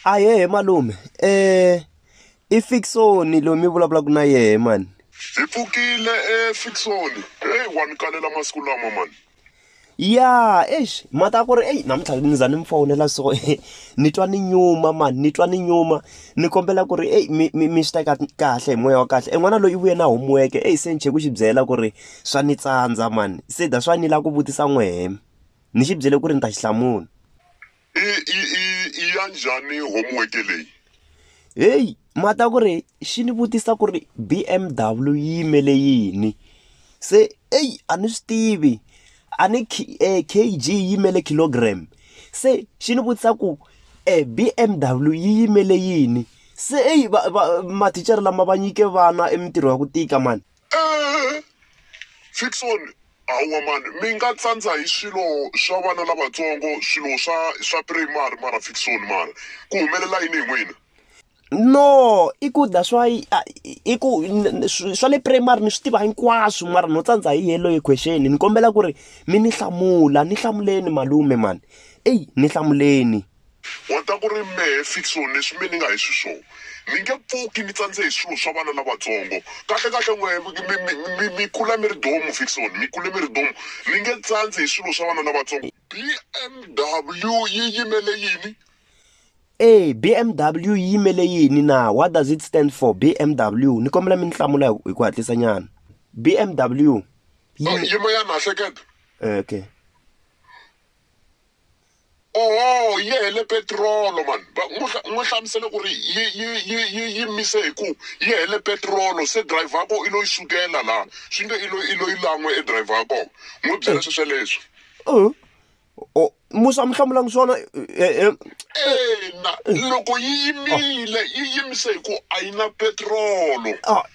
ahehe malume um i fiksoni loyi mi vulavulaka na yehe mani hi pfukile efiksoni heyi wa ni kalela masiku lama mani ya eish mhaka ya ku ri eyi namuntlha ni za ni mi fowunela so ni twa ni nyuma mani ni twa ni nyuma ni kombela ku ri eyi mi mi mi swi teka kahle hi moya wa kahle e n'wana loyi i vuye na homuweke eyi se ni chhe ku xi byela ku ri Swa ni tsandza mani se that's why ni lava ku vutisa n'wehe ni xi byele ku ri ni ta xi hlamula. I i i i ya njhani homework leyi? Heyi ma ta ku ri xi ni vutisa ku ri B_M_W yi yimele yini se eyi a ni swi tivi a ni K_G yi yimele kilogram se xi ni vutisa ku e B_M_W yi yimele yini se eyi va va mathicara lama va nyike vana e mintirho ya ku tika mani. Eeh Fickson hawa mani mi nga tsandza hi swilo swa vana lavatsongo swilo swa swa primary mara Fickson mara ku humelela yini hi n'wina. No i ku that's why i ku swa le primary ni swi tiva hinkwaswo mara no tsandza hi yellow equation ni kombela ku ri mi ni hlamula ni hlamuleni malume mani eyi ni hlamuleni. Wa ta ku ri, Mehe Fixon, leswi me ni nga hi swiswona, ni nge pfuki ni tsandze hi swilo swa vana lavatsongo. Kahle-kahle, n'we mi, mi, mi, mi kula mi ri domu, Fixon, mi kule mi ri domu. Ni nge tsandzi hi swilo swa vana lavatsongo. BMW yi yimele yini? E, BMW yi yimele yini na? What does it stand for, BMW? Ni kombela mi ni hlamula hi ku hatlisanyana. BMW yi. Yima yana, hleketa. Okay. oho yi hele petirolo mani n'wi hlamusele ku ri yi yi yi yi yi mise hi ku yi hele petirolo se driver ya ko i lo yi sukela laha swi nge i lo i lo yi lan'we e driver ya kona n'wi byela swi sweleswo Uh, oh, musa mi hlamulanga swona eh, eh, ina loko yi yimile yi yimise hi ku a yi na petirolo ah,